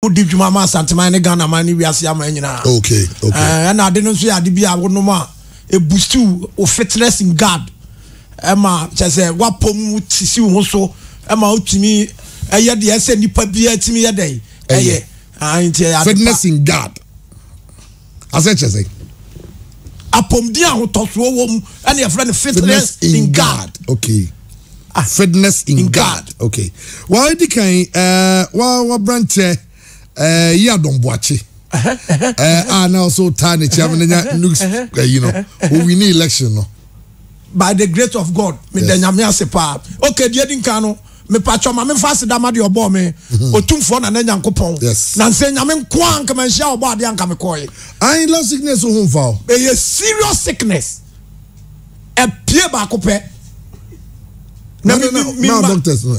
wodi dwuma ma asanteman ne ghana man ne wiase aman nyinaa okay okay eh, ɛna ade no nso yɛ ade bi a wonom a ebustu wo fitness in god ɛma kyɛ sɛ wapɔm sisi wo ho so ɛma wotumi ɛyɛ deɛ ɛsɛ nipa biara tumi yɛ dɛ ɛyɛ ah, fitness in god Asɛ kyerɛ sɛn? Apɔmuden a ahotɔsoɔ wɔ mu ɛna yɛfrɛ no fitness in God. Okay. Ah, fitness in, in God. God. Okay. Wɔadi kan ɛɛ wɔaberanteɛ ɛɛ yi adɔmboakye. ɛɛ a na ɔso taa ne kyɛm ne nya nukes ɛyi no owini election no. by the great of god meda yes. nyame ase paa ok deɛ di nkan no mepatwɔ ma memfa aseda ma deɛ ɔbɔɔ me mhm. ɔtumfoɔ na na nyankopɔn na nsɛ nyame nko a nka manhyia ɔbɔ adeɛ anka mekɔe I love sickness ho mfa o ɛyɛ serious sickness ɛpie baako pɛ na doctors no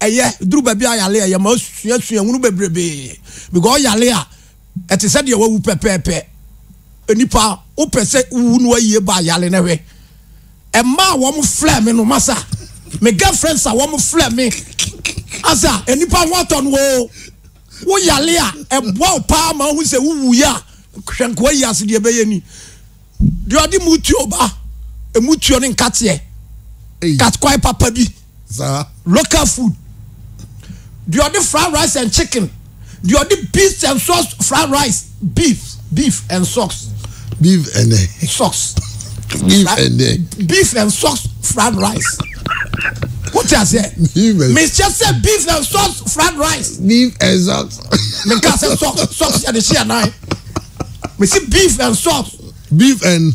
ɛyɛ duru baabi a yare ɛyɛ ma osua sua hunu bebrebe because yare a ɛte sɛ deɛ wawu pɛpɛɛpɛ nipa wopɛ sɛ wuwu no ayie ba yare na hwɛ ɛma a wɔn flɛ me no masa me girlfriend sa wɔn flɛ me asa nipa ho atɔ no o wo yare a ɛboa wo paa ma wohu sɛ wuwu yɛ a hwɛ nkoa yi ase deɛ ɛbɛyɛ ni Deɛ ɔde mutuo ba mutuo ne nkateɛ katkwae papa bi local food deɛ ɔde fried rice and chicken deɛ ɔde beef and sauce fried rice beef beef and sauce beef and eh, sauce beef and eh. beef and sauce fried rice wote aseɛ mehyɛ sɛ beef and sauce fried rice beef and sauce menka sɛ sauce sauce yɛde hyeɛ nan mesi beef and sauce. beef and.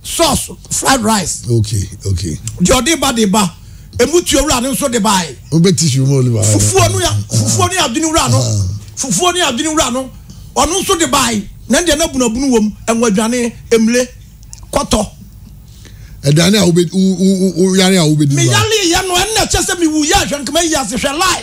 sauce fried rice. okay okay. deɛ ɔde ba de ba emu tuo wura no nso de ba yi. o bɛ ti si mu olu ba. fufuo no ya fufuo no ya adwini wura no fufuo no ya adwini wura no ɔno nso de ba yi na deɛ na bunabunu wɔm ɛnwa aduane emule kɔtɔ. aduane a wo bɛ wo wo yare a wo bɛ di. mi yare yɛ no ɛnna kyɛ sɛ mi wu yɛ ahwɛ nkama yi ase hwɛ lai.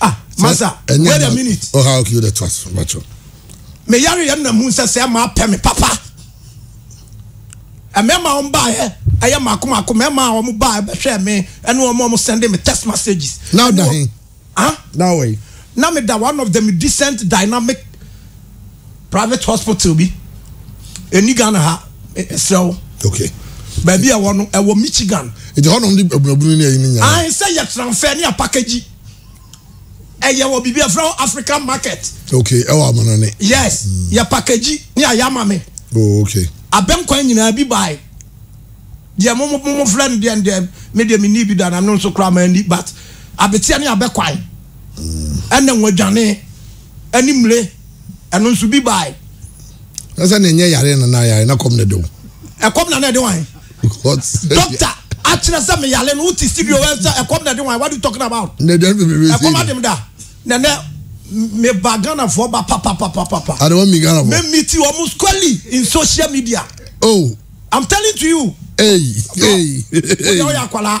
ah masa wait a minute oh how you the trust macho me yare yɛ na mu nsɛ sɛ ma apɛ me papa ɛmɛma wɔn baayɛ ɛyɛ mako mako mɛma wɔn baayɛ bɛhwɛ me ɛne wɔn wɔn send me text messages now da he ah now wait na me da one of the decent dynamic private hospital bi ɛni ghana ha ɛsrɛ wo okay baabi a ɛwɔ no ɛwɔ michigan nti hɔnom de abunabunu ne ayi ne nyinaa ae sɛ yɛ transfer ne apakagyi ɛyɛ wɔ biribi ɛfrɛ wɔ african market okay ɛwɔ amanane yes mm. yɛ pakagyi ne ayɛ ama me oh okay abɛnkwan nyinaa bi bae deɛ mo mo mo frɛ no deɛ deɛ me deɛ me ni bi da na no nso kora ma ni but abetia ne abɛkwan mm. ɛna wɔdwane ne mire, ɛno nso bi bae. Na sɛ na ɛnyɛ yare na na yare na kɔm na ɛde wo. Ɛkɔm na na ɛde wɔn. Dɔkta akyerɛ sɛ me yare no wote studio wɛ sɛ ɛkɔm na ɛde wɔn what you talking about. Na ɛde ɛfɛ mi ɛkɔm adem da na nɛ me ba Ghanafoɔ ba papapapapa. Ade wɔn mi Ghanafoɔ. Me mi ti wɔn squarely in social media. Oh. I'm telling to you. Hey hey. Wọ́n yà wọ́n yà akwalaa.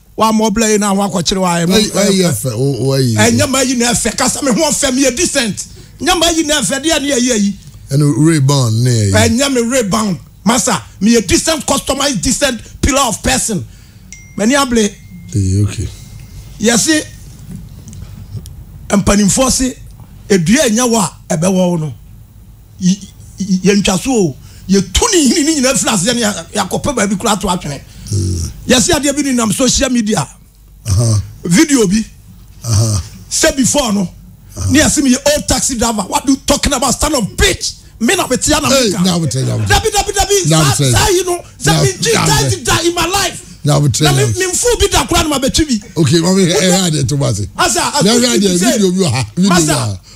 wa mo bla yi na ho akɔkyere wa mo ɛyɛ fɛ o o ayi ɛnyɛ ma yi na ɛfɛ kasa me ho ɔfɛ me yɛ decent nyɛ ma yi na ɛfɛ deɛ ne ɛyɛ yi ɛne rebound ne ɛyɛ ɛnyɛ me rebound masa me yɛ decent customized decent pillar of person mani abele ɛyɛ okay yɛse mpanimfoɔ se edua ɛnyɛ wɔ a ɛbɛwɔ wo no yɛntwa so o yɛtu ne hini ne nyinaa firi aseɛ ne yɛakɔpɛ baabi koraa to atwene mm. yɛse adeɛ bi ne nam social media video bi sɛ before no ne yɛse meyɛ old taxi driver what do you talking about stand of bitch me na me tia na me ka dabi dabi dabi saa yi no sɛ me gyi taxi da in my life na mi mi nfu bi da kura ni ma bɛ twi bi. ok mami ẹ ẹ ẹ adi ẹ tó bá se. asa asa ẹ ẹ adi ẹ video bi wà ha video bi wà ha.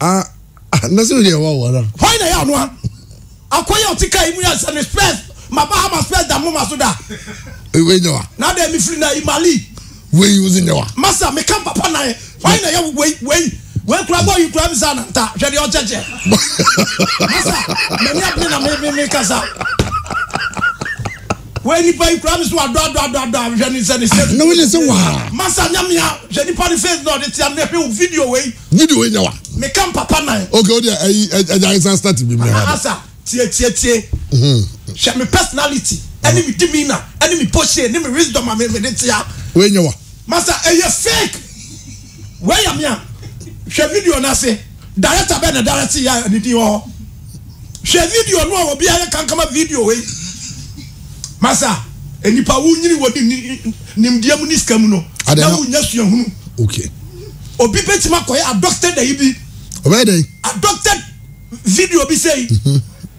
Ah, ah, na sɛ wode ɛwa wɔ no. Hwan na ɛyɛ ɔno a akɔyɛ ɔte kaa yi mu yɛ sɛ ne spurs ma ba ama spurs da moma so da. Wei nyɛ wa. Na dɛ mefiri na yi mali. Wei wo se nyɛ wa. Masa meka mpapa nan hwan na ɛyɛ wei wei wei kura bɔ yi kura mi sa nanta hwɛ deɛ ɔkyɛkyɛ. Masa mani abene na me me me kasa. Wei nipa yi kura mi so adɔ adɔ adɔ adɔ ahwehwɛ ne nsɛ ne hyɛ. Na wei ne sɛ waa. Masa nyamia hwɛ nipa ne face na ɔde tia mi hwɛ o video wei. Video wei nyɛ wa. Me ka mpapa nan. Okay o deɛ ɛyi ɛgya yɛn san start bi mi ha. Asa tie tie tie. Hwɛ mi personality ɛne mi demeanor ɛne mi posture ne mi wisdom a mi mi de tia. Wei nyɛ wa. Masa ɛyɛ fake. Wei yɛ me a, hwɛ video no ase. Director bɛn na directee a ne din wɔ hɔ? Hwɛ video no a obi ayɛ kankama video wei. Masa, nnipa wonyini wɔ nimdeɛ mu ne sika mu no, na wonya suahunu. Okay. Obi betumi akɔyɛ adopted ayi bi. Ɔbɛyɛ dɛn? Adopted video bi sei. Mm-hmm.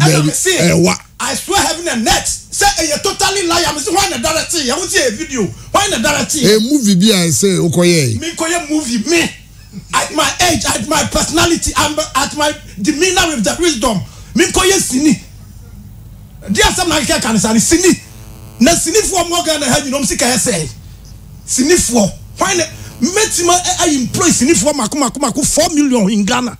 ɛna me se ɛwa I swear heaven and earth sɛ ɛyɛ totally lie a me se hwan na directee yɛ wo se ɛyɛ video hwan na directee yɛ. Ɛyɛ movie bi a ɛsɛ wokɔ yɛe. Me nkɔ yɛ movie me at my age at my personality and at my demeanor with the wisdom me nkɔ yɛ sini deɛ asɛm na akeka ka ne saa ne sini na sinifoɔ mo Ghana ha nyina ɔm sika yɛ sɛe sinifoɔ hwan na mɛtima ayi employ sinifoɔ mako mako mako 4 million in Ghana.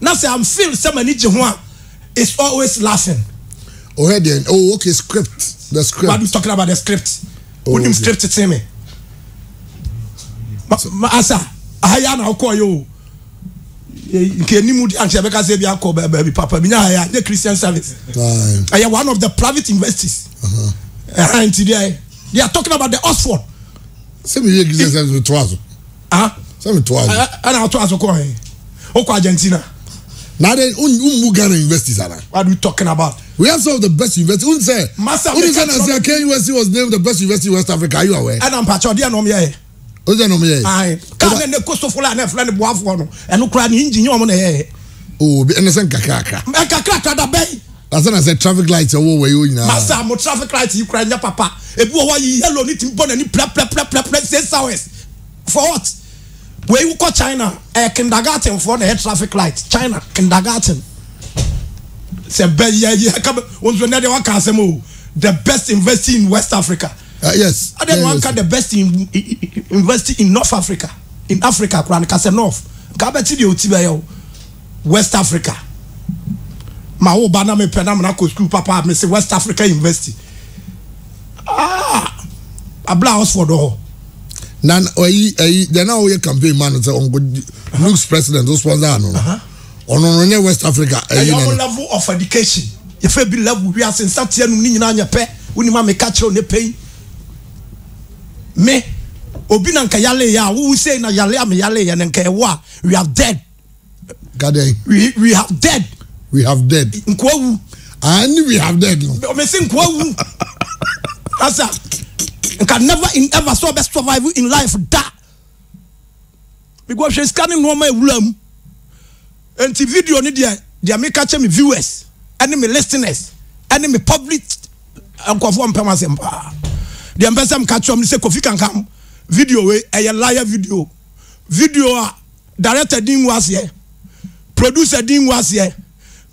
Na sɛ am feel sɛ m'ani gye ho a it's always laughing. Ɔhwɛ deɛn? Oh okay script the script. What you talking about the script? Oh, Wonim okay. script tee me. Ma, ma asa aha ya na wokɔɔ yɛ o. Nke ni mu di ankyɛ bɛka sɛ bi akɔ baabi papa bi nya ha ya nye Christian service. Ɛyɛ one of the private universities. Uh-huh. Ɛha nti deɛ they are talking about the Oxford. Sɛ mi yɛ Christian service to aso. ah sɛ me to ayi ɛna ato aso kɔ he wokɔ argentina na de wommu ghana universities ana what we talking about we have some of the best university won sɛ wone sɛ nasɛ aka university was named the best university in west africa are you aware ɛna mpakyɛ ɔdeɛ na ɔmyɛɛ o sɛ na ɔmyɛɛ kaa ne ne kosofo la na ɛfrɛ ne boafoɔ no ɛno koraa ne engine ɔmo na ɛyɛɛ o ɛne sɛ nkakrakra nkakrakra da bɛn Asa na sɛ traffic light ɛwɔ wɔ yi o nyinaa. Masa mo traffic light yi kura nyɛ papa. Ebi wɔ hɔ yi yellow ni tim bɔ n'ani prɛprɛprɛprɛprɛ six hours. For what? Wei wokɔ China ɛyɛ kindergarten foɔ na ɛyɛ traffic light China kindergarten. Sɛ bɛ yɛ yɛ ka bɛ wɔn nso nɛdeɛ waka asɛm o the best investing in West Africa. Uh, yes. Adeɛ na wanka the best in, investing in North Africa in Africa kura no ka sɛ North nka bɛ ti deɛ o ti bɛ yɛ o. West Africa ma wo ba na me pɛ na mena kɔ school papa a mese West Africa University ah abla Oxford hɔ na ɔyi ɛyi deɛ na ɔyɛ campaign ma no sɛ ɔnko looks president o sponsor ano no ɔno no nyɛ West Africa ɛyi na no level of education yɛfɛ bi level wiase nsateɛ num ne nyinaa nyɛ pɛ wonim a meka kyerɛw ne pɛn me obi na nka yale yɛ a wowu sei na yale a me yale yɛ no nka ɛwo a we are dead Gadɛn. We we have dead. We have dead. Nkoa wu. Ah, ni we have dead no. Ɔmɛ si nkoa wu. Asa, nka never in ever so ɔbɛ survive in life da. Because sika ne nneɛma ewura mu. Nti video ne deɛ deɛ mi ka kyɛ mi viewers ɛne mi listeners ɛne mi public nkɔfoɔ mpɛm asɛm paa. Deɛ mpɛ sɛ mi ka kyerɛ mi sɛ kofi kankam video wei ɛyɛ liar video video a. Director din ngu aseɛ, producer din ngu aseɛ,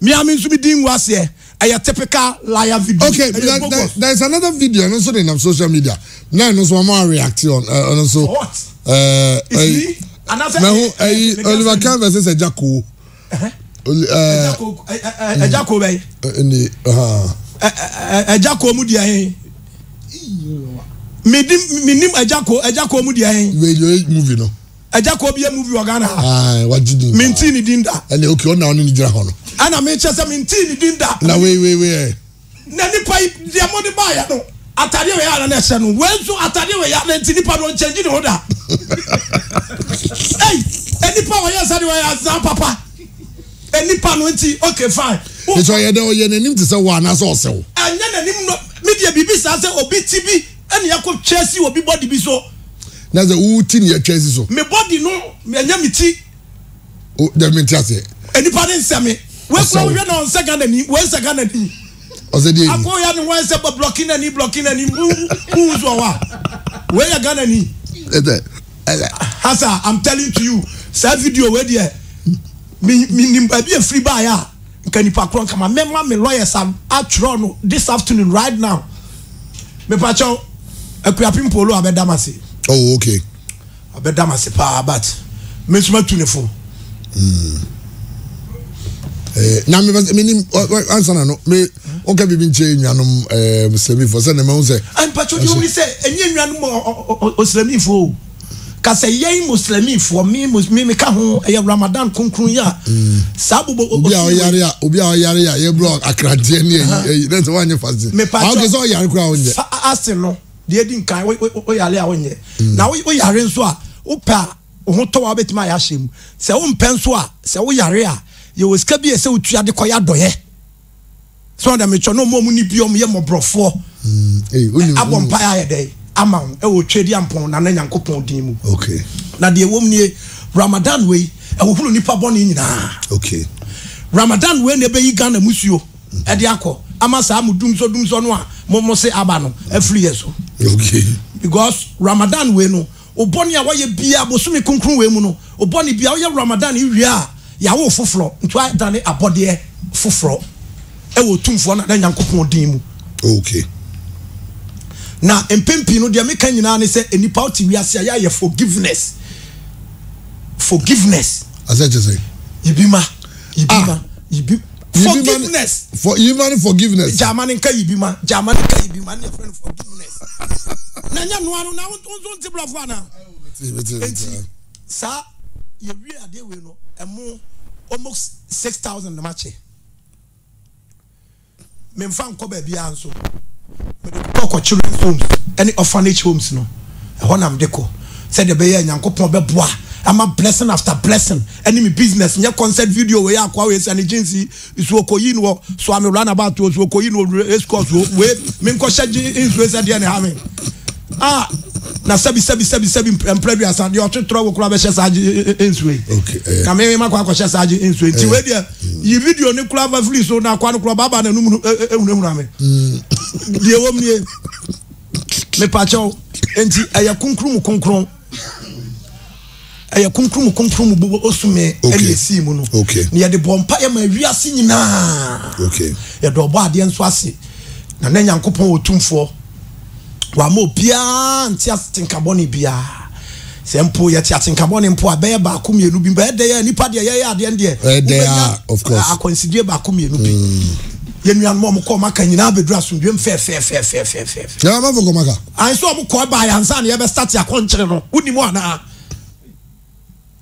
me ara me nso me din ngu aseɛ, ɛyɛ typical liar video, okay, ɛyɛ there, bogus. There, there is another video ɛno nso de nam social media na ɛno nso wɔn a react on eh, ɛno nso. What? Eh, It's eh, me? Anasɛ mɛho eh, ɛyi eh, the girl Oliver said- Kahn versus Ɛgya Koo. Ɛhɛ. Oli- eh, Ɛgya ko- ɛ- ɛ- ɛ- ɛgya ko bɛyɛ ɛni, ah. Ɛ- ɛ- ɛ- ɛgya ko mu deɛ he menim ɛgya ko ɛgya ko mu deɛ he radio movie no Agya kɔ obi a movie wɔ Ghana ha. Ayi wagye din. Minti ne din da. Ɛnna okay ɔna ɔne ne gyina hɔ no. Ɛnna mi kyɛ sɛ minti ne din da. Na wei wei wei ɛ. Eh. Na nipa yi deɛ mo de ba yɛ no atadeɛ wei ara na ɛhyɛ no wei nso atadeɛ wei ara na nti nipa no nkyɛn gyi ne ho da. Ɛyi eh, nipa wɔyɛ nsa de wɔyɛ azan papa. Eh, nipa no nti okay fine. Nti ɔyɛ dɛ ɔyɛ n'anim te sɛ wɔ anaasɛ ɔsɛw. Ɛnyɛ n'anim no mi deɛ biribi saa sɛ obi ti bi. Ɛna yɛkɔ twa si obi body bi so. Na sɛ wo ti ne yɛtwa si so. Me body no ɛnyɛ me ti. O dɛ me ti aseɛ. Enipa ne nsɛ me. Wei kura wohwɛ na ɔnsɛ Ghana ni wei nsɛ Ghana ni. Ɔsɛ deɛ ni. Akɔ ya ne ho ɛsɛ bɔ blɔki na ni blɔki na ni mu mu nso ɔwa. Wei yɛ Ghana ni. Ɛdɛ ɛdɛ. Hasa I'm telling to you saa video wei deɛ mi mi nim baabi efiri baayɛ a. Nka nipa korɔ nka ma me ma me lawyers a atwerɛ no this afternoon right now mepakyɛw Akuapem Polo abɛda m'ase. Oh okay. Abɛda m'ase paa but me nso matu ne fo. Mm. Eh, na me me ni ansa na no me o ka bi bi nche nwanom eh semi fo se na me ho se. An pacho di o ni se enye nwanom o semi fo. ka sɛ yɛn Muslimifoɔ, me mus me meka ho, ɛyɛ Ramadan kronkron yi a saa bobɔ o- obi a osuo ɔyare a obi a ɔyare a yɛbrɛ akradeɛ ne ayi ayi na sɛ woanyɛ fase a Mepa wokɛ sɛ ɔyare koraa wonyɛ fa ase no deɛ edi nkan wo- wo- woyare a wonyɛ na wo- woyare nso a wopɛ a wo ho tɔ wo a wobɛtumi ayɛ ahyɛ mu sɛ wompɛ nso a sɛ woyare a yɛwɔ sika bi a ɛsɛ wotua de kɔyɛ adɔeɛ so ɔda metwa na ɔmo ɔmo ni bi ɔmo yɛ mɔborɔfoɔ abɔ mpaeɛ ayɛ dɛ ama wo ɛwɔ twɛdi ampɔn na na nyankopɔn din mu okay. na deɛ ɛwɔ mu nie ramadan wei ɛhohoro nipa bɔne nyinaa okay. ramadan wei na ɛbɛyi ghana musuo ɛde akɔ ama saa mo dum so dum so no a mo mo se aba no afiri yɛ so okay. because ramadan wei no wo bɔne a woayɛ biaa bosome kronkron wei mu no, wo bɔne biaa woyɛ Ramadan yi wie a yɛawo wo foforɔ nti woadane abɔdeɛ foforɔ wɔ Otumfoɔ no ne Nyankopɔn din mu. Ok. Na mpɛn pii no deɛ meka nyinaa ne sɛ nnipa wote wiase a yɛayɛ forgiveness forgiveness. Asɛ kyɛ sɛ. Yibi ma yibi ma yibi. Forgiveness. For yima ne forgiveness. Jama ne nka yibima. Jama ne nka yibima ne yɛfrɛ no forgiveness. Na nyɛ noa no na wonto nso nte borɔfo anaa? Enti saa yɛwie adeɛ wei no ɛmo almost six thousand na makyɛ. Memfa nkɔ baabiara nso. Mede kɔkɔ children's homes ɛne orphanage homes no. ɛhɔ na mede kɔ sɛdeɛ ɛbɛyɛ a Nyankopɔn bɛboa ama blessing after blessing ɛne me business nyɛ concert video wei akoa wei sane jeans yi nsuo kɔyi no wɔ soa me run about wɔ nsuo kɔyi no wɔ race course wɔ wei menkɔhyɛ gye nsuo sɛ deɛ ne ha me ah na sɛbi sɛbi sɛbi sɛbi mpere bi asa deɛ ɔtwetorɔ wo kora bɛhyɛ saa gye nsuo yi eh. na me ma kɔ akɔhyɛ saa gye nsuo nti eh. wei deɛ yi video ne kora fa firi so na akoa no kora baaba na enum ehunahuna me mm. deɛ wɔm nie mepakyɛw nti ɛyɛ kunkun mu kunkun ɛyɛ kunkun mu kunkun mu bɔbɔ osume ɛna esi mu no na yɛde bɔ mpa yɛ ma wiase nyinaa yɛde ɔbɔ adeɛ nso ase na ne nyankopɔn otumfoɔ wama obiara nti ase tenkabɔ ne biara. Sɛ mpo yɛte atenka bɔne mpo a, bɛyɛ baako mmienu bi. Bɛyɛ dɛn a nnipa deɛ yɛyɛ adeɛ no deɛ, Bɛyɛ dɛn a, wobɛnya of course. akwansideɛ baako mmienu bi. Yɛn nuanom a wɔkɔɔ Maka nyinaa bɛduru asomdwoeɛ mu fɛɛfɛɛfɛɛfɛɛfɛɛfɛ. Na Amafo kɔ Maka? Ae, sɛ wɔkɔe baeɛ ansa na yɛbɛstate akɔnkyere no, wonim anaa?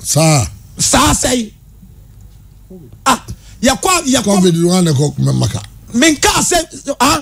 Saa? Saa sɛe. Ah, yɛkɔ a, yɛkɔ. Covid no ara na ɛkɔ Maka. Menkaa sɛ, ah,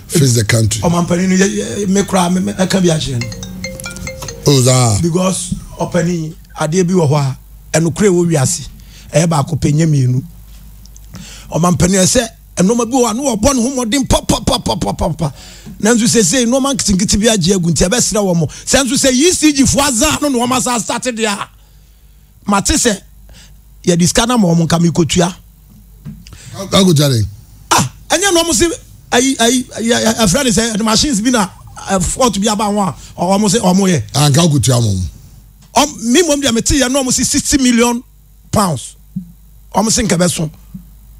face the country. ɔmampanin no yɛ me koraa mɛka bi akyerɛ no. o oh, saa. because ɔpanin adeɛ bi wɔ hɔ a ɛnokora ɛwɔ wiase ɛyɛ baako pɛ nyɛ mmienu ɔmampanin ɛsɛ nneɛma bi wɔ hɔ a na wɔbɔ ne ho mmɔden papapapapapa nanso sese nneɛma nketenkete bi agye agu nti ɛbɛsrɛ wɔn sɛ nso sɛ ecg fo azan no na wɔn asa asate deɛ a. mate sɛ yɛde sika no ma wɔn nka mekɔtua akɔtua dɛn ah ɛnyɛ na ɔmo se ayi ayi ɛfrɛ ne sɛ ɛde machines bi na fort bi aba ho a ɔmo se ɔmo yɛ anka akɔtua mo me mmom deɛ mete yɛ na ɔmo se sixty million pounds wɔn se nka ɛbɛso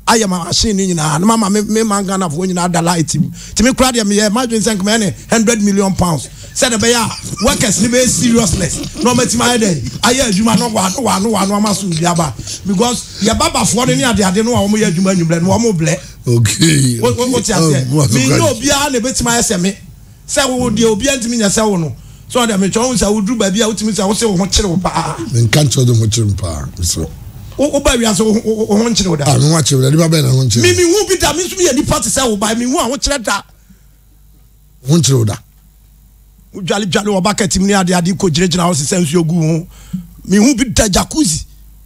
ayɛ ma machine no nyinaa na mama me me man ghanafoɔ nyinaa da light mu tumi kora deɛ meyɛ madwene sɛ nka mɛyɛ ne hundred million pounds sɛ de bɛyɛ a workers no bɛyɛ seriousness na wɔatumi ayɛ dɛ ayɛ adwuma no wa no wa no wa no ama so bi aba because yɛ babafoɔ no ne adeade no a wɔyɛ adwuma anwummerɛ no wɔn blɛ okay wote aseɛ menyɛ obiara na ɛbɛtumi ayɛ sɛ me Sɛ wo deɛ obiara ntumi nyɛ sɛ wo no, so ɔde metwa wo nsa woduru baabi a wotumi sɛ wo se wo ho kyere wo paa. Menka nkyerɛ de ho kyere me paa mesrɛ. Wo wo ba wiase wo ho wo ho nkyere wo da. Ah me ho akyere me da nipa bɛn na ho nkyere. Me me hu bi da me nso meyɛ nipa te sɛ wo ba me hu a ho kyerɛ da. Ho nkyere wo da. Wo dwale dwale wɔ bucket mu ne ade ade kɔ gyina gyina hɔ sesɛ nsuo gu ho me hu bi da jacuzzi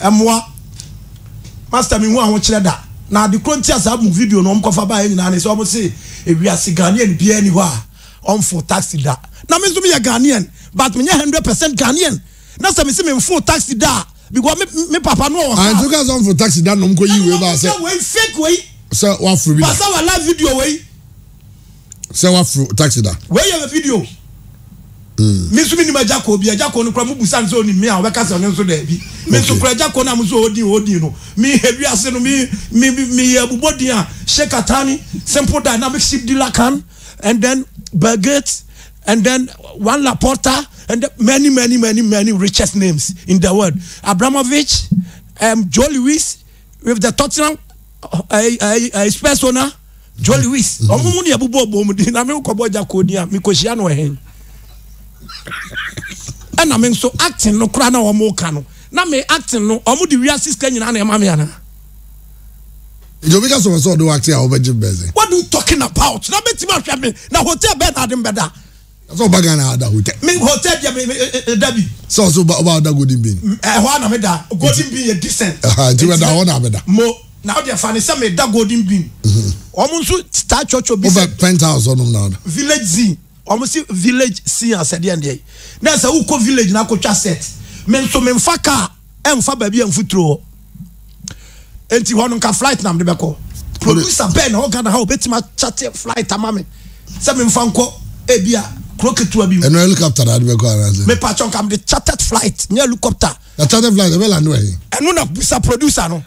Ɛmmoa. Pastor menhu ahokyerɛ da. Na ade korɔ nti a saa mu video no wɔn kɔfa baeɛ nyinaa ne sɛ wɔn se ewiase Ghanaian biara nni hɔ a ɔnfoo taxi da. Na me nso meyɛ Ghanaian but menyɛ hundred percent Ghanaian. Na sɛ mese menfoo taxi da a because me me papa no ɔwɔ car. Anti wokaa sɛ ɔnfoo taxi da na wɔn kɔ yii wei baa sɛ. Ɛna wɔn kɔka wei fake wei. Sɛ waforo bi da. Pastor wɔ live video wei. sɛ waforo taxi da. Wei yɛ video. Mm. Me nso menim agya kɔ bi agya kɔ no kora mo busa nso onim me a ɔbɛka sɛ ɔno nso daabi me nso kora agya kɔ no a mo nso ɔdin ɔdin no me hɛ wiase no me me me yɛ abubɔ din a shekatani simple dynamic ship dealer can and then Belgate and then one Laporta and many many many many richest names in the world Abramovich um, Joe Lewis with the Tottenham ayi ayi ayi Spurs owner Joe Lewis ɔmo mu ni ɛbobɔ ɔbɔ mu di na mi kɔ bɔ gya kɔ ni a mi kɔ hyia no ɛhɛn ɛna mi nso acting no kora na ɔmo ka no na mi acting no ɔmo di wia sista nyinaa na ɛma mi ana. nti obi ka sɛ wɔsɛ ɔde wakye a wobɛgye bɛdze what do you talking about na bɛtumi ahwɛ me na hotel bɛɛ na ade mbɛda Sɛ ɔba Ghana ada hotel. Me hotel deɛ me me da bi. Sɛ ɔsɛ ɔba ɔba ada golden bean. Ɛhɔ a na me da golden bean yɛ decent. Ɛha nti mɛda hɔ na me da. Mo na ɔdeɛ fa ne sɛ me da golden bean. Wɔn nso taa twɔtwɔ bi sɛ. Ɔbɛ penthouse ɔnom na ɔda. Village zin wɔn si village sin asɛdeɛ ndeɛ na sɛ wokɔ village na akɔtwa set me nso me nfa car. ɛmfa baabi a mfuturo wɔ nti hɔ no nka flight na mede bɛkɔ producer bɛn na ɔwɔ Ghana ha obetumi akyate flight ama me sɛ memfa nkɔ ebi a kuro ketewa bi mu ɛno helicopter na ade bɛkɔ anaasɛ mepa kyɛ nka mede chartered flight nyɛ helicopter na chartered flight ɛbɛ lande wɔ he ɛno na busa producer no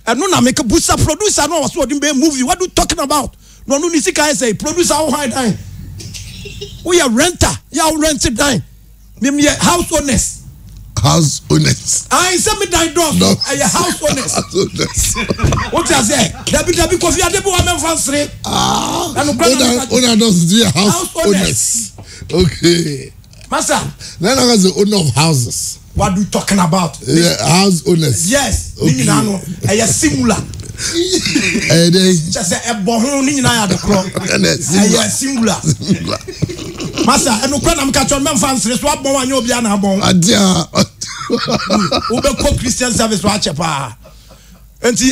Ɛno na meka busa producer no a ɔsɛ ɔde bɛyɛ movie what you talking about na ɔno ne sika ayɛ sɛ producer wo hwan dan woyɛ renter yɛ a wo rent dan mem yɛ house owners house owners ayi sɛ me dan dɔɔso ɛyɛ house owners o ti ase dabi dabi kofi ade bi wa mɛ nfa nsere ɛnu kura na mi ka ti house owners okay. Masa. Na na ɔka sɛ owner of houses. What do you talking about? Yeah, house owners. Yes, ne nyinaa no ɛyɛ singular. Ɛyɛ dɛ. Kyɛ sɛ ɛbɔ ho ne nyinaa yɛ adekorɔ. Ɛyɛ singular. Masa, ɛnu kura nam kakyɔ mɛ nfa nsere so abɔn anyɛ obi ana abɔn. Adia. Wobɛkɔ Christian service wa akyɛ paa. Nti.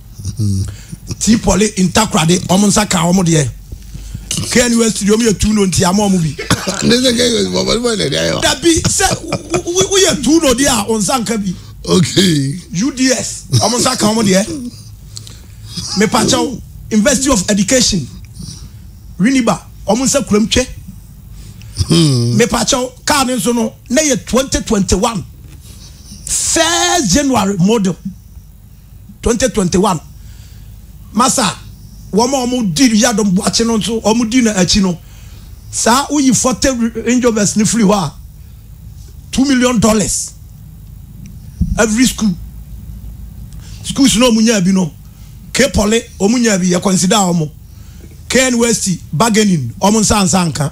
Tea pɔle ntakorade wɔn nsa ka wɔn deɛ kɛɛ ni wɛsi deɛ wɔn yɛ tu no nti ama wɔn bi. ne sɛ kɛɛ yɛ bɔbɔ ne bɔ ne deɛ yɛ. dabi sɛ woyɛ tu no deɛ a wɔn nsa nka bi. okay. uds wɔn nsa ka wɔn deɛ mepakyɛw university of education winiba wɔn nsa kuram twɛ. Hmm. mepakyɛw kaa ne nso no na yɛ twenty twenty one first january model. twenty twenty one masa wɔn a wɔn di yadom buakye no nso wɔn di no akyi no saa woyi forte rangers no firi hɔ a two million dollars every school schools na wɔn nyaa bi no kepɔle wɔn nyaa bi yɛ consider wɔn knwest bargaining wɔn nsa nsa nka.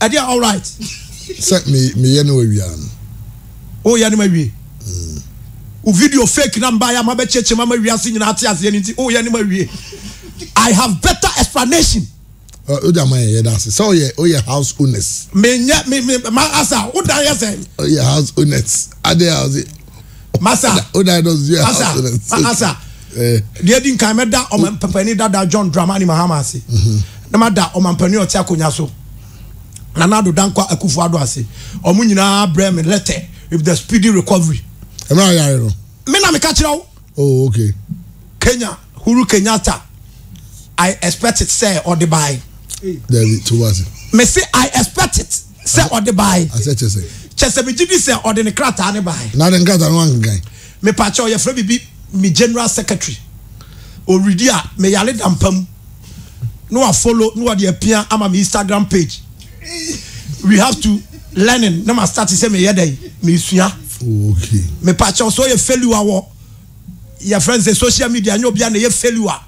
ɛde a alright. sɛ meyɛ no awia no. woyɛ no ma wie. Mm. wo video fake na mbaeɛ ama bɛkyekyem ma wiase nyinaa te aseɛ no nti woyɛ no ma wie. i have better explanation. wode ama yɛyɛ da ase sɛ woyɛ woyɛ house owners. menyɛ me me ma asa wodan yɛ sɛ. woyɛ house owners ade a ɔse. Masa. O dinosaurs yɛ Masa. Masa. Deɛ edi nkan mɛda ɔmampanin dada John Dramani Mahama ase. Mhm. Na mada ɔmampanin ɔte akonnwa so. Nana Addo Dankwa Akufo Addo ase. Wɔn nyinaa brɛ me lɛtɛ with the speedy recovery. Ɛmɛ ayare no. Me na meka kyerɛ wo. Oh, okay. Kenya Huru Kenyatta. I expect it sɛ ɔde baae. Dabi, to wase. Me se I expect it. sɛ ɔde bae. Asɛ kyɛ sɛ. Kyɛ sɛ megye di sɛ ɔde ne krataa ne bae. Na de ne krataa no wankenkan. Mepakyɛw yɛfrɛ biribi me general secretary. Ɔredi a me yare da mpa mu. Na wa follow na wɔde apia ama me Instagram page. We have to learning na ma start sɛ meyɛ dɛn mesua. Oh, okay. Mepakyɛw sɛ ɔyɛ failure wɔ yɛfrɛ no sɛ social media nyɛ obiara na ɛyɛ failure.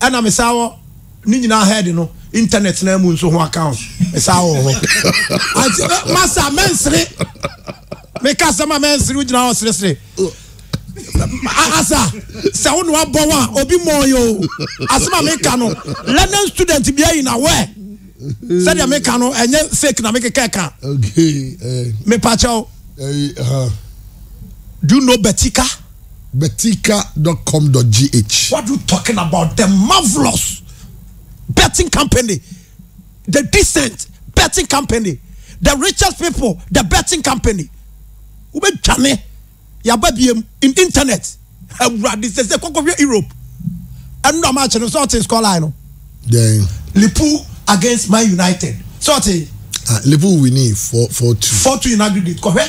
ɛna me saa wɔ ne nyinaa head no internet na mu nso ho account me saa wɔ hɔ ati eh, masa mɛnsere meka asɛm a mɛnsere wogyina hɔ seresere asa sɛ wo ne wabɔ wo a obi mmɔɔ yɛ o asɛm a meka no learning student bia yi na wɛ sɛdeɛ meka no ɛnyɛ fake na mekeka ɛka eh. mepakyɛw eh, do you know betika Betika dot com dot gh. What you talking about the marvelous betting company the decent betting company the richest people the betting company wobɛtwane yɛaba biem in internet awurade sɛ sɛ kɔkɔhwɛ Europe ɛno ama akyɛ no sɛ ɔte score line no then Liverpool against Man United sɛ ɔte ah, Liverpool winning 4-2 4-2 in aggregate kɔhwɛ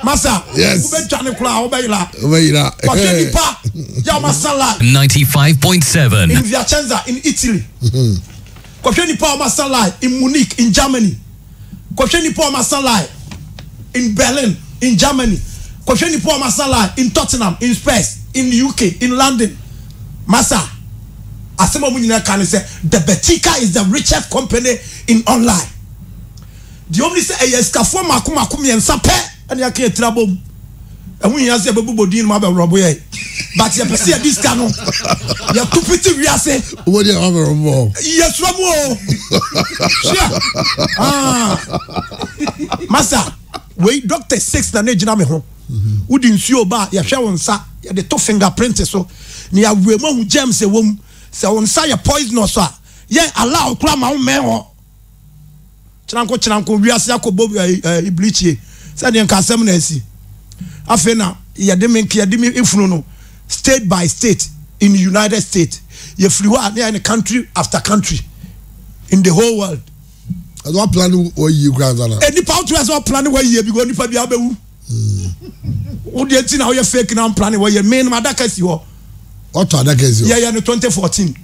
Masa, yes. wobɛdwane koraa wobɛyera wobɛyera wɔhwɛ nipa yɛ ɔmasa life 95.7 in Viacenza in Italy mm-hmm. kɔhwɛ nipa ɔmasa life in Munich in Germany kɔhwɛ nipa ɔmasa life in Berlin in Germany kɔhwɛ nipa ɔmasa life in Tottenham in Spurs in UK in London masa asɛm a ɔmo nyinaa ka ne sɛ the Betika is the richest company in online Deɛ ɛwɔ mu ne sɛ, ɛyɛ asikafoɔ mmaako mmaako mmiɛnsa pɛ na yɛaka yɛn tiri abom. Ɛho nhia sɛ yɛbɛbobɔ din no ma abɛworɔbo yɛn, but yɛpɛ sɛ yɛde sika no yɛto pete wiase. Wobɔ din a wabɛworɔbo wɔ hɔ. Yɛsuro mu o. Hyia. Ah. Masa, wei Dr. Six na na ɛgyina me ho. Wode nsuo ba a, yɛhwɛ wo nsa, yɛde to finger print so, na yɛawerɛ mu ahu germs ɛwɔ mu. Sɛ wo nsa yɛ poisonous a, yɛn allow koraa ma wo mmɛn hɔ. kyeranko kyeranko wiase akɔbɔ ibirikyie sɛ deɛ nka asɛm na asi afei na yɛde me nkeɛ de me efunu no state by state in the united states yɛfiri hɔ a ne yɛayɛ no country after country in the whole world ɛsɛ ɔpla ne wɔyie kura nsa na nipa wotu ɛsɛ ɔpla ne wɔyie bi kɔ nipa bi abɛwu Wo deɛ nti na woyɛ fake na mplane wɔ yɛ menom adaka si hɔ. Wɔtɔ adaka si hɔ. Yɛyɛ no 2014.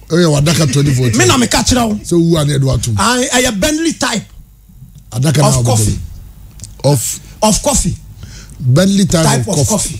Ɛyɛ wadaka 2014. Me na meka kyerɛ wo. Sɛ wowu a na yɛde watom. Ɛyɛ Bentley type. Adaka na of coffee. Of of coffee. Bentley type, type of coffee. coffee.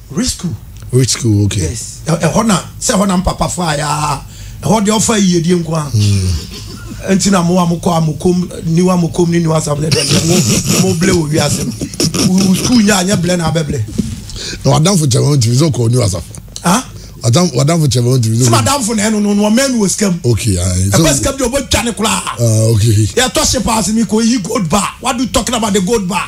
Rich school. Rich school okay. Yes. Ɛhɔ na sɛ ɛhɔ na mpapa fa ya ɛhɔ deɛ ɔfa yiyedie nko a. Hmm. Nti na mo a mo kɔ a mo kom niwa mo kom ni niwa sabulɛ dɛ deɛ mo mo ble wɔ wiase no. Wɔ school nyɛ anyɛ blɛ na abɛ blɛ. Na wadanfo kyɛ wɔn ntumi sɛ ɔkɔ niwa sa. Ah. Wadanfo kyɛ wɔn ntumi. Sɛ wadanfo na ɛno no no ɔmɛn wɔ sikam. Okay. Ɛbɛ sikam de ɔbɛ twa ne koraa. Ah okay. Yɛ tɔ se paase mi ko yi gold bar. What do you talking about the gold bar?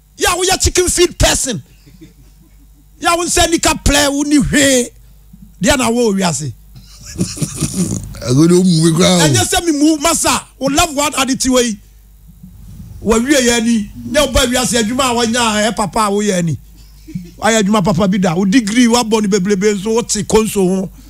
Yɛ a woyɛ chicken feed person. Yɛ a wo nsa nika plɛ wo ni hwee. Deɛ na wo wiase. Agodo mu bi kura o. Ɛnyɛ sɛ mi mu masa wo love one adi ti wei. Wɔ wie yɛ ni nyɛ wo ba wiase adwuma a wɔnya a ɛyɛ papa a woyɛ ni. Ayɛ adwuma papa bi da. Wo degree wabɔ ni bebrebe nso wo te konso ho.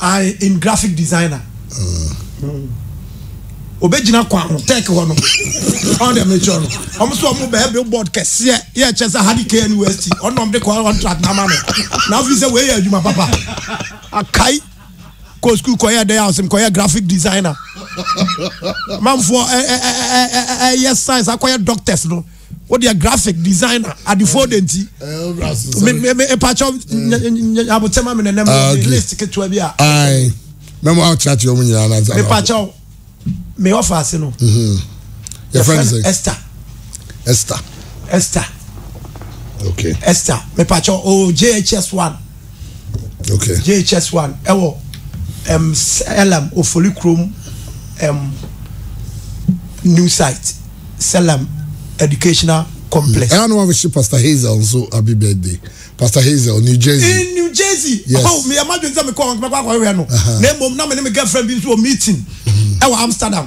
I am graphic designer. Obegyina kwan ho tech hɔ no. Ɔn dɛ mekyerɛ no. Ɔmo so ɔmo bɛyɛ billboard kɛseɛ yɛ kyɛ sɛ ha de KNUST ɔno na ɔmo de kɔ contract na ama me. Na afei sɛ wei yɛ adwuma papa. Akae kɔ school kɔyɛ dɛ a ɔsɛ mekɔyɛ graphic designer. Manfoɔ ɛyɛ science akɔyɛ doctors no. o deɛ graphic designer adefoɔ de nti mpakyɛ abotɛ ma me nenam ah, list ketewa bi a mɛma wokyerɛkyerɛ ɔmo nyinaa no ansa mepakyɛ me ɔfa ase no mhm. yɛfrɛ no sɛ esther esther esther okay esther mepakyɛ o jhs one okay. jhs one ɛwɔ um, selam ofori kurom um, new site selam educational complex. ɛyà ni wọn fi ṣe pastor hazel nso happy birthday pastor hazel new jersey. in new jersey yes oh mi ẹ ma dwen sẹ mi kọ ọhún kí n bẹ kọ akọ ẹwẹ no na emu na mi ni mi girlfriend bi nso wọ meeting ɛwɔ mm-hmm. amsterdam.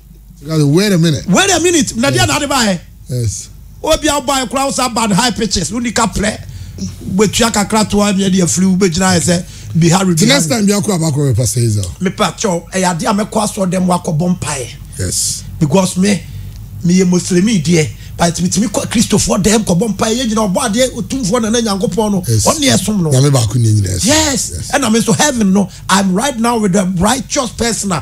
wait a minute wait a minute na deɛ na ade baɛ yes obi a wobaɛ koraa wo saa bad high pitches woni ka prɛ wobɛtua kakra toa ne ɛde afiri wobɛgyina ɛ sɛ bihari the next time biakora bakora bɛ pastor Hazel mepa kyɛw ɛyɛ adeɛ a mɛkɔ asɔ dɛm wakɔbɔ mpaeɛ yes because me meyɛ muslimi deɛ but metumi kɔ kristofoɔ dɛm kɔbɔ mpaeɛ yɛ nyina ɔbɔ adeɛ ɔtumfoɔ nana nyankopɔn no yes ɔne ɛsom no nyame baako ne nyina ɛsom yes ɛna me nso heaven no I'm right now with a righteous person a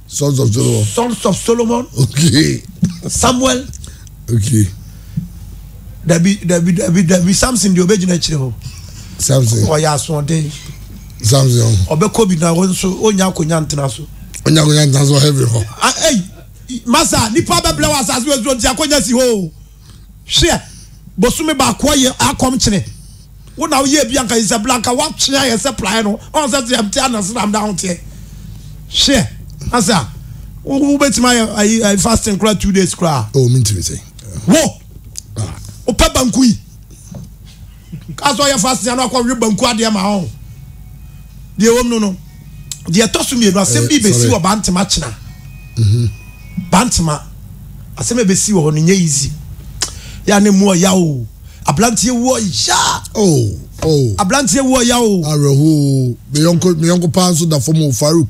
Sons of Solomon. Sons of Solomon. Okay. Samuel. Okay. Dabi dabi dabi dabi Samson deɛ ɔbɛgyina akyire hɔ. Samson. Ɔyɛ asoɔden. Samson. Ɔbɛkɔ bi na wɔn nso ɔnya akonnwa ntena so. Ɔnya akonnwa ntena so heaven hɔ. Ɛyi masa nipa bɛbrɛ wɔ asase wɔ nsuo nti akonnwa si hɔ o. Hweɛ, bosome baako ayɛ akɔm kyene wo na woyɛ bi anka Isabella anka woatwe ayɛ sɛ praeɛ no ɔn sɛ sɛ mte anasram da ahoteɛ hweɛ asa wobɛtumi ayɛ ayi ayi fasting kora two days kora oh mentumi sɛ wo wopɛ banku yi kaa sɛ ɔyɛ fasting ano akɔwe banku adeɛ ma ɔn deɛ wɔm no no deɛ ɛtɔ so mmienu asɛm bi bɛsi wɔ bantema kyena bantema asɛm a ɛbɛsi wɔ hɔ no nyɛ easy yɛ a ne mu ɔya o abranteɛ wu ɔya oh oh abranteɛ wu ɔya o awerɛhoo meyɔnko meyɔnko paa nso da fam o faruk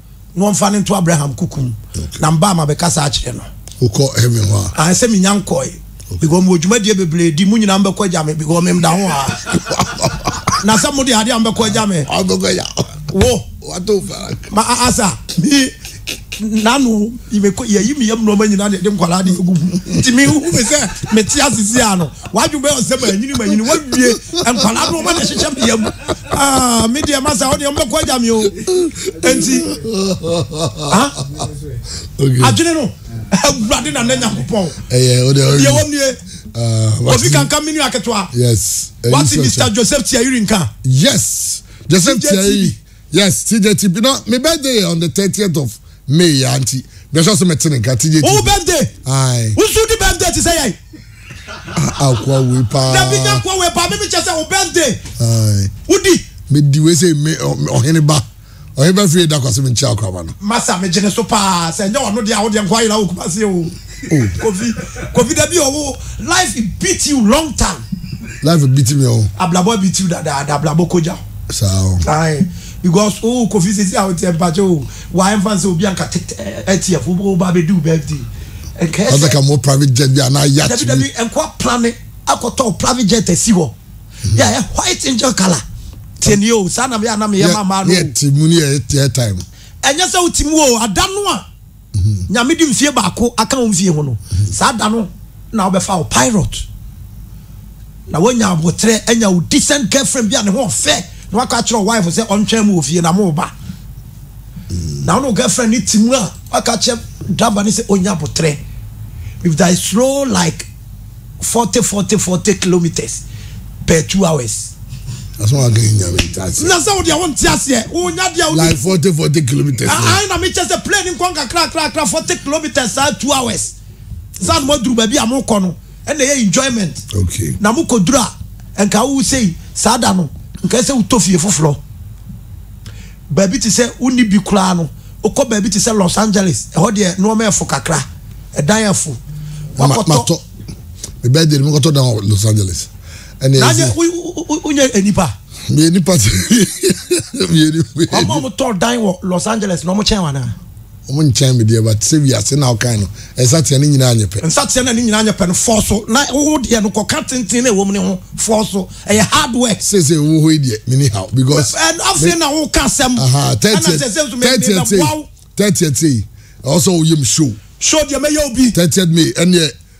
na ɔmfa no nto Abraham kuku mu. Na mbaa ma bɛkasa akyerɛ no. Wokɔ heaven hɔ a? Ae sɛ menya nkɔe. Because mewɔ dwumadie bebree di. Mo nyinaa mbɛkɔ agya me because memda ho aa. Na sɛ mode adeɛ a mbɛkɔ agya me. Ɔbɛkɔ agya. Wo. Wato farak. Ma a asa. Me nano yɛyi me yam nnoɔma nyinaa na yɛde nkwadaa de agu mu. Nti me hu me sɛ mete ase si ano. W'adwene bɛyɛ ɔsɛ manyini manyini wawie nkwadaa no ɔma na ɛhyehyɛ me yam ah, me deɛ masa wodeɛ mbɛkɔ agya me o nti ah, adwene no awurade na na nyankopɔn deɛ wɔm nie ah, obi kanka me nua ketewa wate mr joseph tiayiri nka yes joseph tiayiri Yes TJ ti bi na me birthday yɛ on the thirtieth of May ya nti me sure sɛ me te ne nka TJ ti. Wo birthday. Aye. Wo nso di birthday ti sɛ yɛn. Akwa wei paa. Na bi nya kwa wei paa me me kyɛ sɛ wo birthday. Aye. Wo di. Me di wei sɛ me ɔhene ba. Ɔhene ba fie da kwa sɛ me nkyia akoraba no. Masa me gyene so paa sɛ nyɛ ɔno deɛ a wo deɛ nkwa yera wo kumase o. Oh. Kofi, Kofi dabi owo life beat you long time. Life beat me oh. Ablabo beat you da da da ablabo koja. Sao. Aye. Because oh Kofi sisi a wote empache oh. Why am fancy obi anka ATF wo ba be do birthday. Enka ese. Asa ka mo private jet bi ana yacht. Dabi dabi enko plane akoto private jet esi ho. Mm-hmm. Yeah, eh, white angel color. Tieni oh, sana me anam ye mama no. Yeah, timuni eh, time. Enya se utimi oh, adano a. Nyame de mfie baako aka wo mfie ho no, saa da no na wobɛfa wo pilot, na woanya abotrɛ, anya wo decent girlfriend bi a ne ho ɔfɛ, na wakɔ akyerɛ wo wife sɛ ɔntwɛn mu wɔ fie na mo ba. Na wo ne wo girlfriend ne te mu a, waka akyerɛ driver no sɛ ɔnya abotrɛ. If there is slow like forty forty forty kilometres per two hours. That's why I can't hear me. That's it. Na sɛ wo deɛ wonte aseɛ wonya deɛ wode Like forty forty kilometers. ae na mekyɛ sɛ plane nkɔ nkakrakrakra forty kilometres saa two hours saa na moaduru baabi a mokɔ no ɛna ɛyɛ enjoyment Okay. na mokɔduru a nka wo sei saa da no nka sɛ wotɔ fie foforɔ Baabi te sɛ wonni bi koraa no, wokɔ baabi te sɛ Los Angeles, ɛhɔ deɛ nnoɔma ɛfo kakra, ɛdan afo. Wakɔtɔ. Me birthday no mekɔtɔ dan wɔ Los Angeles. Ɛna ɛsɛ. Wonyɛ nipa. Meyɛ nipa. Meyɛ nipa. Wɔn a wɔtɔ dan wɔ Los Angeles na wɔkyɛn wɔn anaa? Wɔn nkyɛn me deɛ but sɛ wiase na wo kan no nsateaa no nyinaa nyɛ pɛ. Nsateaa no a ne nyinaa nyɛ pɛ no fɔɔ so na wo deɛ no kɔ ka tenten na ɛwɔ mu no ho fɔɔ so ɛyɛ hard work. Seesei wo wɔ hɔ yi deɛ me ni haw because me. Ɛn afei na wo ka asɛm ɛna sɛsɛ nso me me bɛ boa wo. Thirtieth sei ɛwɔ sɛ wo yɛ me show. Show deɛ mɛ yɛ wo bi. Thirtieth may ɛneɛ.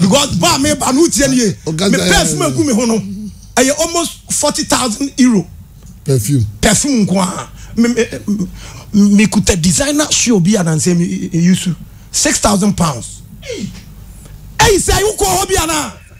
because bɔ a meba no wotie no ye me perfume agu me ho no ɛyɛ almost forty thousand euro perfume perfume nko a mekuta designer shoe bi anansɛ yusu six thousand pounds ɛyi sɛ wokɔ hɔ bi anaa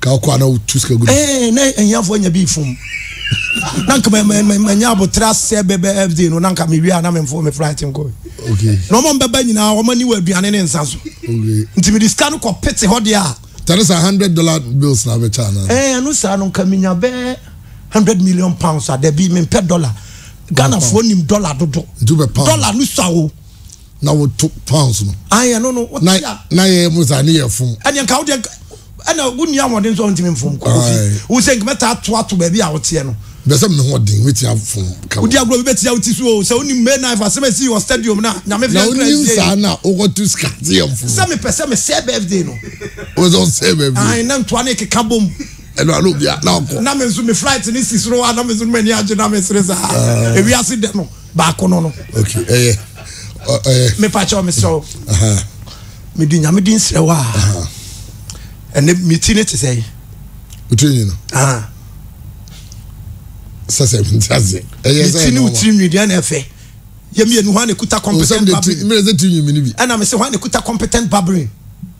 ka wokɔ ana wotu sika gu eh, na ahiafoɔ anya bi fom na nka manya aboterɛ asɛ bɛbɛ fd no na nka mewie a na memfo me flight nkɔ na ɔma mbɛba nyinaa ɔma ni wɔ aduane ne nsa so nti mede sika no kɔ pete hɔ deɛ a tɛne sɛ hundred dollar bills na bɛkyɛ ana eh, ɛno saa no nka menya bɛɛ hundred million pounds a dabi mempɛ dollar ghanafoɔ nim dollar dodo dollar no sa o na woto pounds no. Ayi ɛno no wote a. Na yɛyɛ mo saa ne yɛ fom. Ɛdeɛ nka wodeɛ ɛna wonni ahoɔden nso a wontumi mfom kofi. Wo sɛ nka mɛtaa ato ato baabi a woteɛ no. Bɛsɛ me hoɔden mɛtia fom ka. Wodi agorɔ bi bɛtia wo ti so o. Sɛ wonim May knife asɛm a ɛsii wɔ stadium no a nyame fia nkra nsie. Na wonim saa na wokɔto sika te yɛ mfom. Sɛ mepɛ sɛ mesɛ birthday no. Wosɛ wosɛ birthday. Ayi na ntoa ne keka bom. Ɛno ano bia na ɔkɔ. Na me nso me flight ne si soro a na me nso m'ani agye na mesere saa. Ewiase dɛ no. baako no no okay ɛyɛ ɛyɛ mepa kyɛw mesrɛ wo mede nyame din srɛ wo a ɛnɛ meti ne te sɛ yi wotiri nyi no sɛsɛ nti ase ɛyɛ sɛ ɛnɛ ɔma meti ne nwi deɛ na ɛfɛ yɛ mmienu hɔ a na ɛkuta competent babbling ɛna mese hɔ a na ɛkuta competent babbling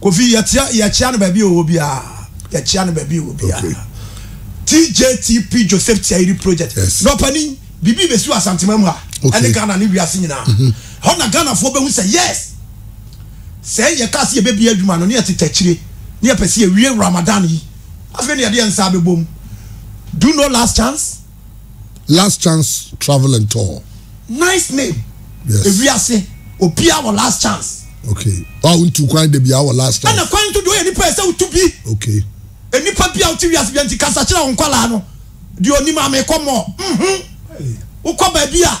Kofi yɛteɛ yɛkyea no baabi a ɔwɔ biara yɛkyea no baabi a ɔwɔ biara TJTP Joseph Tiayiri project nɔpani biribi bɛsi wɔ Asantema mu ha ɛne Ghana ne wiase nyinaa mhm. hɔ na Ghanafoɔ bɛhu sɛ yes sɛ yɛka sɛ yɛbɛbie adwuma no ne yɛtete akyire ne yɛpɛ sɛ yɛwie Ramadan yi afei ne yɛde yɛn nsa bɛbom do no last chance Last Chance Travel and Tour. Nice name. Yes. Ewiase obiara wɔ last chance. Okay. Wa wo ntu kwan de biara wɔ last chance. Ɛna kwan to do yɛ nipa yɛ sɛ wotu bi. Okay. E nipa bi a wote wiase bi nti kasa kyerɛ wo nkwalaa no. Di onim ame kɔ mɔ. Mhm. Wokɔ baabi a.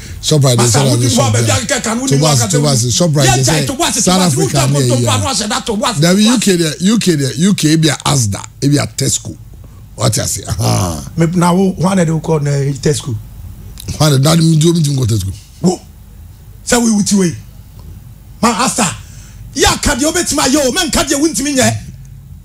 Shoprite de sɛ wani sɔ bia Tobas Tobas Shoprite de sɛ South Africa ne ɛyi a dabi UK deɛ UK deɛ UK ebi a Asda ebi a Tesco wate ase ahaa. na wo hwan na de wokɔ na eh, Tesco. hwan na de adi nti omi ti nkɔ Tesco. wo sɛ wo iwu ti wei ma Asda yɛ aka deɛ obetumi ayɛ o mɛ nka deɛ wuntumi nyɛ.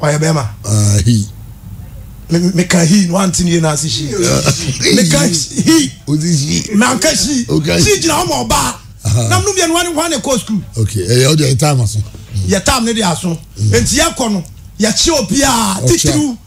ɔyɛ bɛrima. Ah, he. Me, me ka he, no ante ne na ase she. Me ka he. Odi she. Me anka she. Oka she. She gyina hɔ ma ɔbaa. Na mnum yɛ nwa ne hwa ne kɔ school. Okay, ɛyɛ ɔdi ɛyɛ time aso. Yɛ time ne de aso. Nti yɛ kɔ no, yɛ kye obiara titiriw.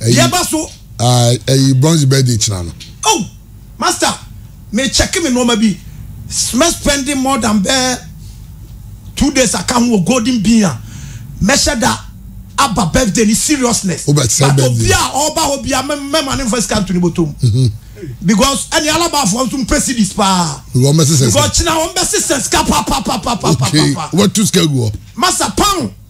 Ɛyi, Deɛ ɛba so. Aye, ɛyi Bronze birthday kyena no. Oh! Master, me check me nnoɔma bi. Mɛ spend more than bɛɛ two days aka ho wɔ Golden Bean a, mɛhyɛ da aba birthday ni seriousness. Wo bɛte sɛ But birthday. obi a ɔba hɔ bia, mɛ mɛ ma ne nfa sika nto ne bɔtɔ mu. Mhm. Because ɛne Alabaafoɔ nso mpɛ cedis paa. Because wɔn bɛsesɛ sika. Because kyena wɔn bɛsesɛ sika papapapapapapa. Okay, wobɛto sika agu hɔ. Master, pound.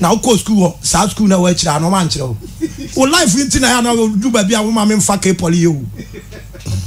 Na wo kɔɔ school wɔ saa school na wɔakyire a na wɔn ankyerɛ wo wo life nti na ɛyɛ a na wo du baabi a wo maame nfa kee poly yɛ o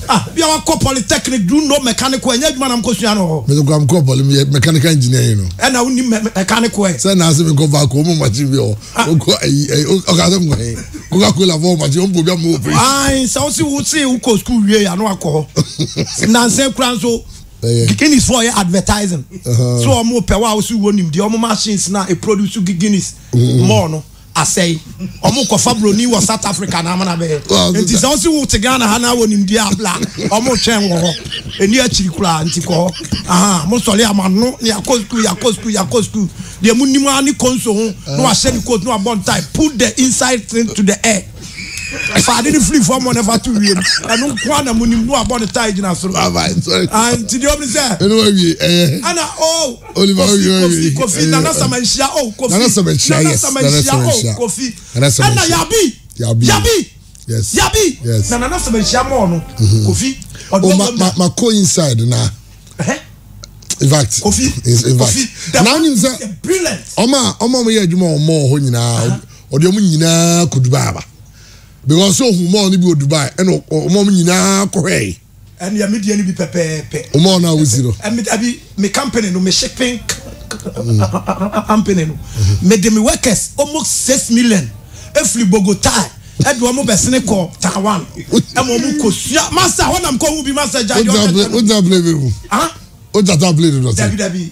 ah bia wakɔ polytechnic do you know mechanical ɛnyɛ adwuma na mokɔ sua no wɔ hɔ. Mede kora mekɔɔ poly me yɛ mechanical engineer yi no. Ɛna wo nim me me mechanical ɛ. Sɛ na ase me nkɔ vacuum ɔmo machine bi wɔ hɔ ah. ɔkɔ ayi ayi ɔka sɛ nkɔ he coca cola fɔ machine ɔmo bɔ ɔmo operation. Ayi sɛ ɔsi wo se wo kɔ school wie ya na wakɔ hɔ nansan kura nso. bɛyɛ. Guinness fo ɔyɛ advertising so ɔmo pɛ wa ɔso wɔ nim deɛ ɔmo machines na e produce Guinness mm-hmm. mɔɔ no asɛe ɔmo kɔfa broni wɔ South Africa na amana bɛyɛ nti sɛ ɔsi wo te Ghana ha na wɔ nim deɛ abla ɔmo twɛn wɔ hɔ ɛni akyiri koraa nti kɔ hɔ aha mo sɔre ama no ne akɔ sukuu yakɔ sukuu yakɔ sukuu deɛ mo nim ara ne konso ho na wahyɛ ne coat na wabɔ ntae put the inside thing to the air. fa ade no firi fam na fa to wiem ɛno nko a na mo nim no abɔ ne tae gyina soro nti deɛ ɔbi sɛ ɛna o kofi kofi nana sama nhyia o kofi nana sama nhyia o kofi ɛna yabi yabi yabi na nana sama nhyia mɔɔ no mm-hmm. kofi ɔdɔ oh, wɔn na ma ko inside na. in fact kofi kofi na ɔnim sɛ ɔmo a ɔmo a ɔmo yɛ adwuma ɔmo wɔ hɔ nyinaa. Ɔde wɔn nyinaa kɔ Dubai aba. Because sɛ ohun mall no bi wɔ Dubai ɛna ɔma wɔn nyinaa kɔhwɛe. Ɛnea me deɛ no bi pɛpɛɛpɛ. Wo mall no a wosi no? Ɛbi me company no me shipping company no me de me workers almost six million efiri Bogota ɛde wɔn bɛsene kɔ Taiwan ɛma wɔn kɔ sua master hɔ nam kɔ hu bi master gya deɛ ɔkɛntɛ no. O gya play mi mu. O gya ta play mi mu. Dabi dabi.